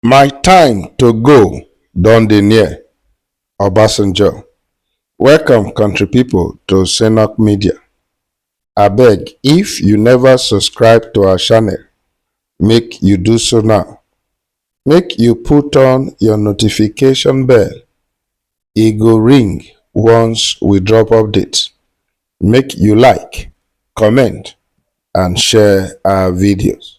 My time to go don dey near, Obasanjo. Welcome country people to Senok Media. Abeg if you never subscribe to our channel, make you do so now. Make you put on your notification bell, e go ring once we drop update. Make you like, comment and share our videos.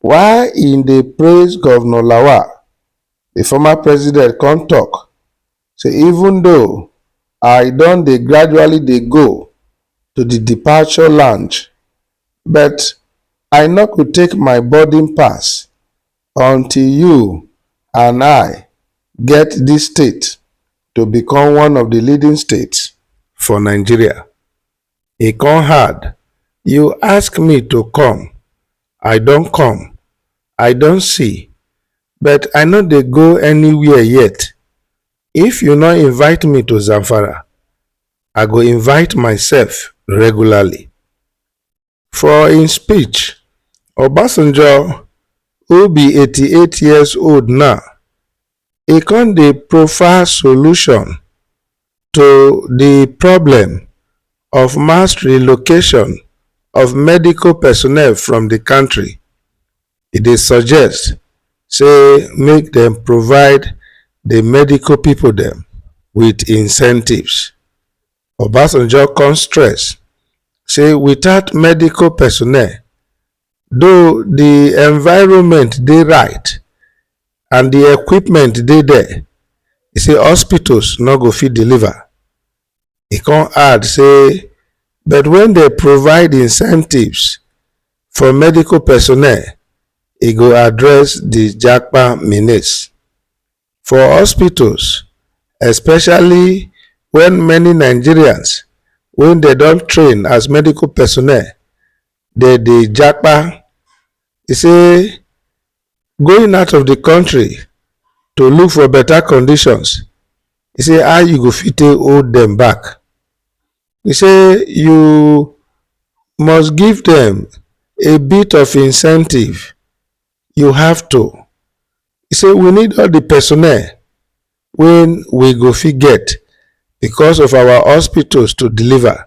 While im dey praise Govnor Lawal, di former president come tok say even though I don dey gradually dey go to di departure lounge but I nor go take my boarding pass until you and I get dis state to become one of di leading states for Nigeria. e con hard You ask me to come, I don come I don see, but I no dey go anywhere yet If you no invite me to Zamfara, I go invite myself regularly For im speech, Obasanjo, who be eighty eight years old now, e come dey proffer solution to di problem of mass relocation of medical personnel from di kontri. E dey suggest say make dem provide di medical pipo dem wit incentives. Obasanjo come stress say without medical personnel, Though di environment dey right and di equipment dey there, e say hospitals no go fit deliver. E con add say but wen dem provide incentives for medical personnel, e go address di japa menace. For hospitals, especially wen many Nigerians wey dem don train as medical personnel dey dey japa e say going out of di kontri to look for beta conditions e say how you go fit take hold dem back e say you must give dem a bit of incentive you have to e say we need all di personnel wey we go fit get because of our hospitals to deliver.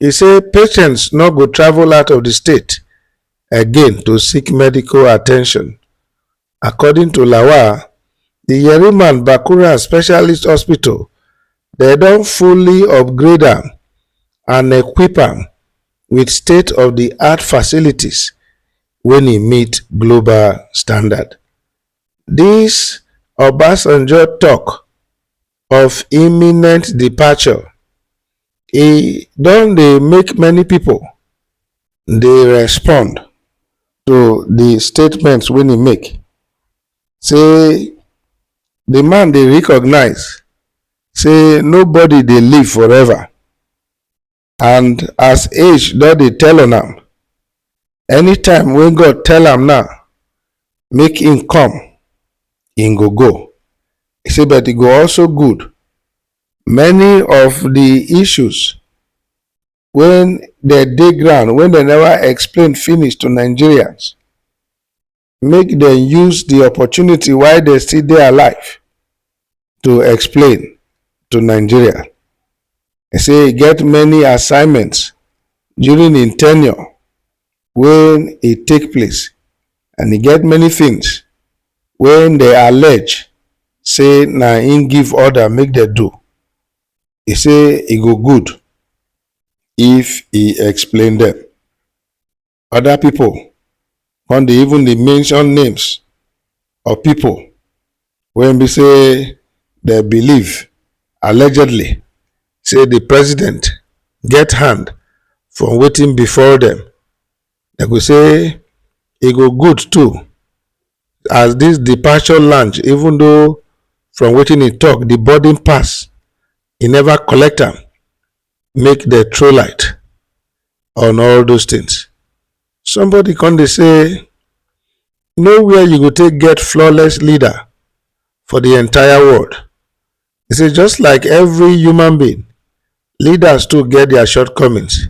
E say patients no go travel out of di state again to seek medical attention. According to Lawal, di Yeriman Bakura Specialist Hospital dem don fully upgrade am and equip am wit state of di art facilities wen e meet global standard. Dis Obasanjo tok of imminent departure, e don dey make many pipo dey respond to di statement wey im make say di man dey recognise say nobody dey live forever. And as age don dey tell on am, anytime wey God tell am now, make im come, im go go. E say but e go also good many of di issues wey dem dey ground wey dem neva explain finish to Nigerians, make dem use di opportunity while dem still dey alive to explain to nigeria e say e get many assignments during im tenure wey e take place and e get many things wey dey allege say na im give order make dem do e say e go good if e explain dem other people come dey even dey mention names of people wey be say dem believe allegedly say the president get hand from wetin befall dem dem go say e go good too as this departure lounge even though from wetin e talk the boarding pass e never collect am make dem throw light on all those things. Somebody come dey say nowhere you go take get flawless leader for the entire world. He say just like every human being, leaders too get their shortcomings.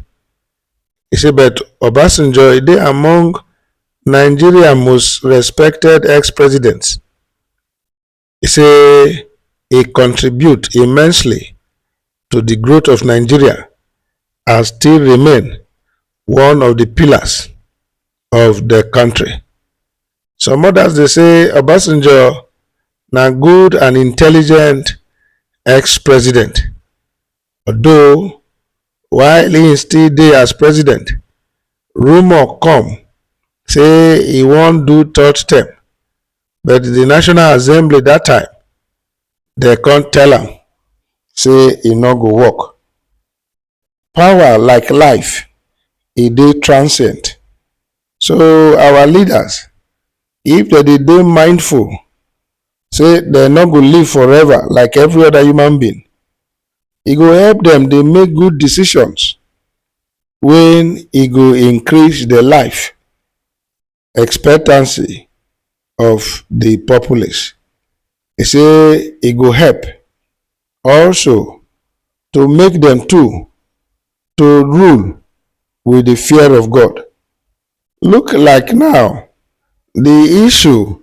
He say but Obasanjo e dey among Nigeria most respected ex-presidents. e say e contribute immensely to di growth of nigeria and still remain one of di pillars of di country. Some others dey say Obasanjo na good and intelligent ex-president although while im still dey as president, rumour come say e wan do third term but di national assembly dat time dem come tell am say e no go work power like life e dey transient so our leaders if dem dey dey mindful say dem no go live forever like every other human being e go help dem dey make good decisions wey e go increase their life expectancy of di populace. E say e go help also to make dem too to rule wit di fear of God. Look like now di issue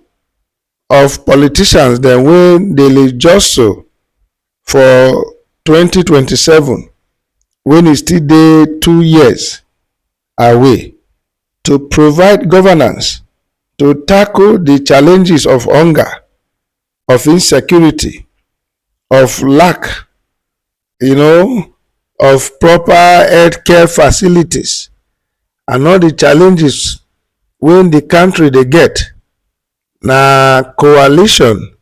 of politicians dem wey dey jostle for twenty twenty seven wen e still dey two years are way to provide governance to tackle di challenges of hunger, of insecurity, of lack you know of proper health care facilities and all di challenges wey di country dey get na coalition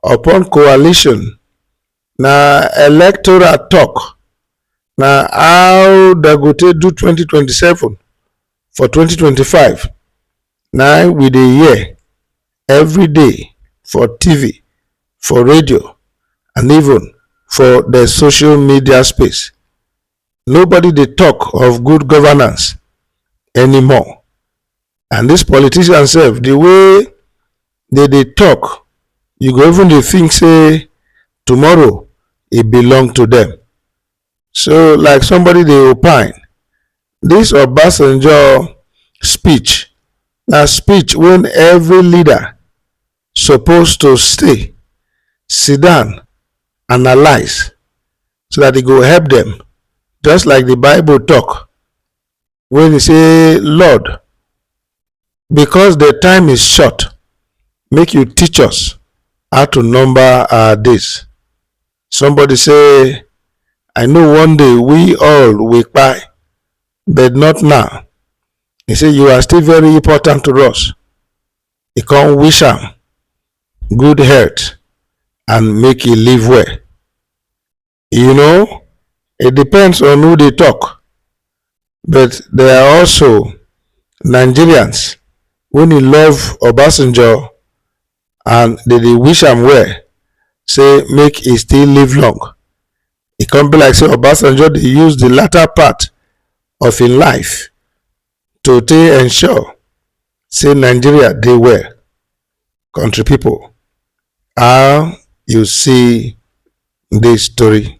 upon coalition na electoral talk na how dem go take do 2027 for 2025 na we dey hear every day for tv for radio and even for the social media space Nobody dey talk of good governance anymore and this politician sef the way they dey talk you go even dey think say tomorrow e belong to them. So like somebody dey opine this Obasanjo speech na speech when every leader suppose to stay sit down analyse so that e go help them. just like the bible talk when e say lord because the time is short make you teach us how to number our days somebody say i know one day we all will buy, but not now he say you are still very important to us e come wish am good health and make e live well. You know, it depends on who they talk, but there are also Nigerians who dey love Obasanjo and they dey wish am well, say make e still live long. E come be like say Obasanjo dey use the latter part of im life to take ensure say nigeria dey well country people how you see this story.